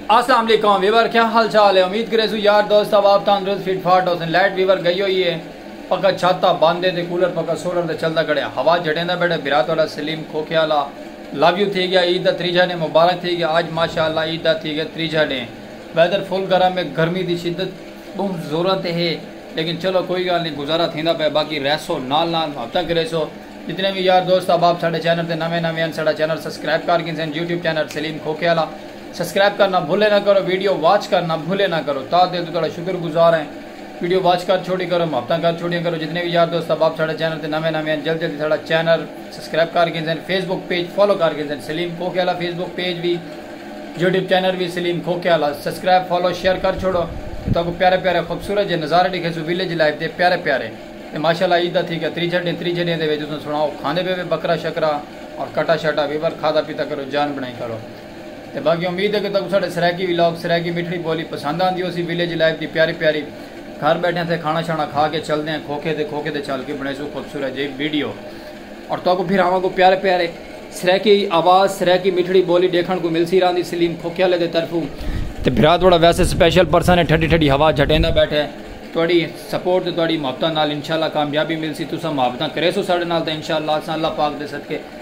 السلام علیکم ویور کیا حال چال ہے امید کرے سو یار دوست اب آپ تندرست فٹ فاٹ ہو سن لائٹ ویور گئی ہوئی ہے پکا چھاتا باندھے تے کولر پکا سولر تے چلدا کڑیا ہوا جڑیندا بیٹھا برات والا سلیم کھوکھے والا لو یو تھی گیا عید دا تریجھا ڈینھ مبارک تھی گیا اج ماشاء اللہ عید دا تھی گیا تریجھا ڈینھ ویدر فل گرم ہے گرمی دی شدت بہوں زوراں تے ہے لیکن چلو کوئی گالھ نی گزارا تھیندا پئے باقی رہسو نال نال محبتاں کریسو جتنے وی یار دوست احباب ساڈے چینل تے نویں نویں ہن ساڈا چینل سبسکرائب کر گھنسن یوٹیوب چینل سلیم کھوکھے آلا سبسکرائب کرنا بھلے نہ کرو ویڈیو واچ کرنا بھلے نہ کرو تاں دل توں تہاڈا شکر گزار ہیں ویڈیو واچ کر چھوڑی کرو محبتاں کر چھوڑیاں کرو جتنے وی یار دوست احباب ساڈے چینل تے نویں نویں ہن جلدی جلدی ساڈا چینل سبسکرائب کر گھندن فیس بک پیج فالو کر گھندن سلیم کھوکھے آلا فیس بک پیج وی یوٹیوب چینل وی سلیم کھوکھے آلا سبسکرائب فالو شیئر کر چھوڑو تے تہاکوں پیارے پیارے خوبصورت جے نظارے ڈکھیسوں ویلیج لائف دے پیارے پیارے تے ماشاءاللہ عید دا تھی گیا تری چھڈیں تری چھڈیں دے وچ تساں سنڑاؤ کھاندے پے وے بکرا شکرا اور کٹا شٹا وی پر کھادا پیتا کرو جان بنڑائی کرو۔ تے باقی امید ہے کہ تہاکوں ساڈے سرائیکی ولاگ سرائیکی مٹھڑی بولی پسند آندی ہوسی ولیج لائف دی پیاری پیاری گھر بیٹھیاں تھے کھانا شانا کھا کے چلدے ہیں کھوکھے تے کھوکھے تے چل کے بنڑیسوں خوبصورت جئی ویڈیو اور تہاکوں پھر آواں کو پیارے پیارے سرائیکی آواز سرائیکی مٹھڑی بولی ڈیکھن کو ملسی راندی سلیم کھوکھے والے دے طرفوں تے بھرا تہاڈا ویسے سپیشل پرسن ہے ٹھڈی ٹھڈی ہوا جھٹیندا بیٹھے تہاڈی سپورٹ تے تہاڈی محبتاں نال انشاءاللہ کامیابی ملسی تساں محبتاں کریسو ساڈے نال تاں انشاءاللہ اساں اللہ پاک دے صدقے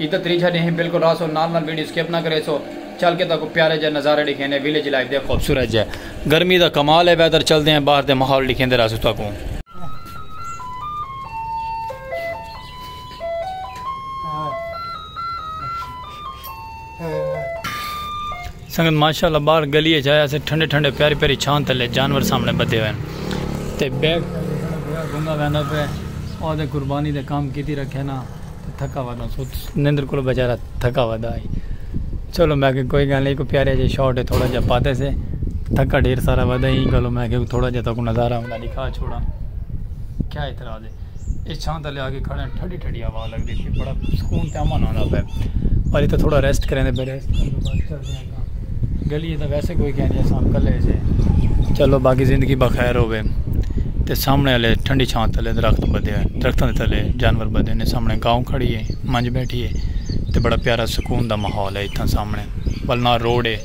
ادا تریجھا ڈینھ بالکل راہسو نال نال ویڈیو سکپ نہ کریسو چل کے تہاکوں پیارے جئے نظارے ڈکھینے ویلیج لائف دے خوبصورت جئے گرمی دا کمال ہے ویدر چلدے ہیں باہر دے ماحول ڈکھیندے راہسو تہاکوں۔ سنگت ماشاء اللہ باہر گلی اچ آیا سے ٹھنڈے ٹھنڈے پیاری پیاری چھاں تلے جانور سامنے بدھے ہوئے ہیں تے بیک سائیڈ ویکھنڑاں پیا گنگا ویندا پئے او تے قربانی دے کام کیتی رکھے نا تے تھکا ودا ست نندر کولو بیچارا تھکا ودا ہئی چلو میں کہ کوئی گل نہیں کوئی پیارے جے شاٹ ہے تھوڑا جا پاتے سے تھکا ڈھیر سارا ودا ہی گلو میں کہ تھوڑا جا تاکو نظارہ ہوندا دکھا چھوڑا کیا اعتراض ہے یہ چھاں تلے آ کے کھڑے ہیں ٹھڈی ٹھڈی ہوا لگ رہی تھی بڑا سکون تے امن آندا پے پر اتھے تھوڑا ریسٹ کریں دے پہلے گلی تے ویسے کوئی کہہ نہیں سان کلے سے چلو باقی زندگی بخیر ہوے تے سامنے والے ٹھنڈی چھاں تلے درخت بدے ہیں درختوں دے تلے جانور بدے نے سامنے گاؤں کھڑی ہے منج بیٹھی ہے تے بڑا پیارا سکون دا ماحول ہے اتھاں سامنے بلنا روڈ ہے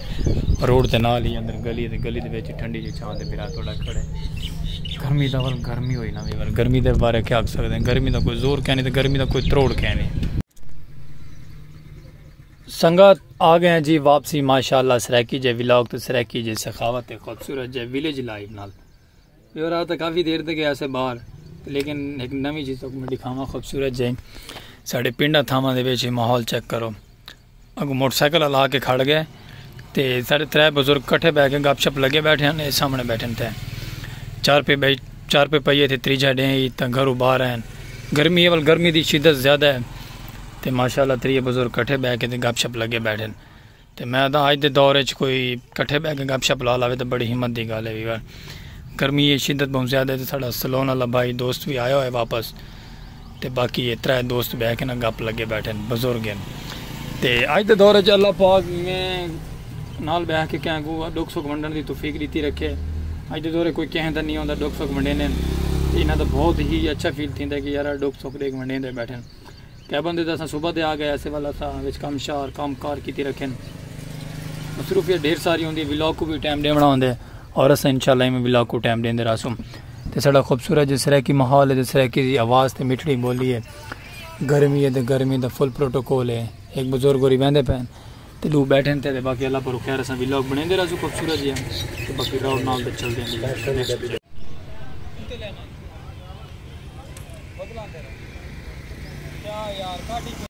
روڈ دے نال ہی اندر گلی ہے تے گلی دے وچ ٹھنڈی جی چھاں تے بھرا توڑا کھڑے گرمی دا ول گرمی ہوئی نہ وی ول گرمی دے بارے کیا آکھ سکدے ہیں گرمی دا کوئی زور کہیں نہیں تے گرمی دا کوئی تروڑ کہیں نہیں سنگت آ گئے ہیں جی واپسی ماشاءاللہ سرائیکی جے ولاگ تے سرائیکی جے سخاوت تے خوبصورت جے ویلیج لائیو نال یہ رہا تھا کافی دیر تک گیا سے باہر لیکن ایک نوی چیز تک میں دکھاواں خوبصورت جے ساڑے پنڈا تھاواں دے بیچے ماحول چیک کرو اگوں موٹر سائیکل ہلا کے کھڑ گئے تے سارے ترے بزرگ کٹھے بہ کے گپ شپ لگے بیٹھے ہیں اے سامنے بیٹھے ہیں تے چار پہ بیٹھ چار پہ پئیے تھے تریجا ڈیں ہی تا گھرو باہر ہیں گرمی ہے ول گرمی دی شدت زیادہ ہے تے ماشاءاللہ تریے بزرگ کٹھے بہ کے تے گپ شپ لگے بیٹھے تے میں دا اج دے دور وچ کوئی کٹھے بہ کے گپ شپ لا لاوے تے بڑی ہمت دی گل ہے ویور گرمی ہے شدت بہت زیادہ ہے تے ساڈا سلون والا بھائی دوست بھی آیا ہوئے واپس تے باقی اے ترے دوست بہہ کے نا گپ لگے بیٹھے ہن بزرگ ہن تے اج دے دور اچ اللہ پاک میں نال بہہ کے کہیں کوں ڈکھ سکھ ونڈن دی توفیق ڈتی رکھے اج دے دور اچ کوئی کہیں دا نی ہوندا ڈکھ سکھ ونڈیندے ہن تے انہاں دا بہت ہی اچھا فیل تھیندا ہے کہ یارا ڈکھ سکھ ڈیکھ ونڈیندے بیٹھے ہن کئی بندے تے اساں صبح دے آ گئے اسے ول اساں وچ کم شار کم کار کیتی رکھے ہن مصروفیت ڈھیر ساری ہوندی ہے ولاگ کو وی ٹائم ڈیونڑا ہوندے اور اساں انشاءاللہ ایویں ولاگ کو ٹائم ڈیندے رہسوں تے ساڈا خوبصورت جو سرائیکی ماحول ہے جو سرائیکی دی آواز تے مٹھڑی بولی ہے گرمی ہے تے گرمی دا فل پروٹوکول ہے ایک بزرگ ہوری ویندے پین تے دو بیٹھن تے باقی اللہ پر خیر اساں ویلوگ بنے دے رازو خوبصورت جی تے باقی راؤ نال تے چل دیں جی Yeah, yeah,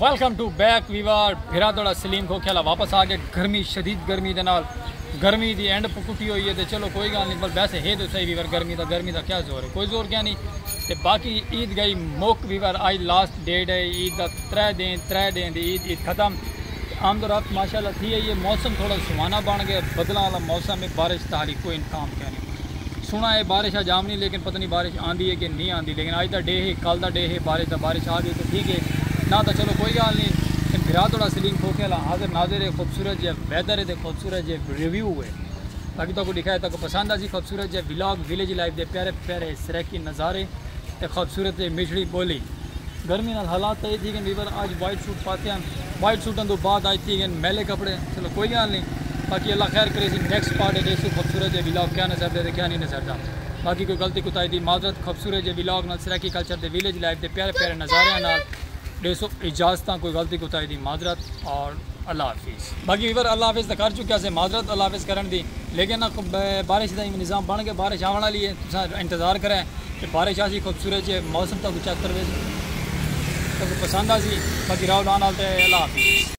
welcome to back viewer بھرا توڑا سلیم کو کھیلا واپس آ گئے گرمی شدید گرمی دے نال گرمی دی اینڈ پکٹی ہوئی ہے تے چلو کوئی گال نہیں پر ویسے ہے تو صحیح ویور گرمی دا گرمی دا کیا زور ہے کوئی زور کیا نہیں تے باقی عید گئی موک ویور آئی لاسٹ ڈے ڈے عید دا ترے دین ترے ڈینہہ دی عید عید ختم تے آمد و رفت ماشاءاللہ تھی ہئی ہے موسم تھوڑا سہانا بن گئے بدلاں والا موسم ہے بارش دا ہالی کوئی امکان کینی سنا ہے بارش اج آونی لیکن پتہ نہیں بارش آندی ہے کہ نہیں آندی لیکن اج دا ڈے ہے کل دا ڈے ہے بارش دا بارش آ گئی تے ٹھیک ہے نہ تاں چلو کوئی گال نہیں تے بھرا تہاڈا سلیم کھوکھے والا حاضر ناظر ہے خوبصورت جے ویدر ہے تے خوبصورت جے ریویو ہے تاکہ تہاکوں ڈیکھا ہے تہاکوں پسند آسی خوبصورت جے ولاگ ولیج لائف دے پیارے پیارے سرائیکی نظارے تے خوبصورت تے مٹھڑی ٻولی۔ گرمی نال حالات تئیں تھی گن ویور آج وائٹ سوٹ پاتے ہن وائٹ سوٹاں توں بعد آج تھی گن میلے کپڑے چلو کوئی گال نی باقی اللہ خیر کرے اسی نیکسٹ پارٹ اچ ایسوں خوبصورت جے ولاگ کیا نظر دے تے کیا نی نظر دا باقی کوئی غلطی کوتاہی دی معذرت خوبصورت جے ولاگ نال سرائیکی کلچر دے ویلیج لائف دے پیارے پیارے نظاریاں نال ڈیسو اجازتاں کوئی غلطی کوتاہی دی معذرت اور اللہ حافظ۔ باقی ویور اللہ حافظ تاں کر چکیا سے معذرت اللہ حافظ کرن دی لیکن نا خوب بارش دا ایویں نظام بن گئے بارش آون والی ہے تساں انتظار کرے کہ بارش آسی خوبصورت جے موسم تاکوں چیک کروے تاکوں پسند آسی باقی راؤ ڈان آل تے اللہ حافظ۔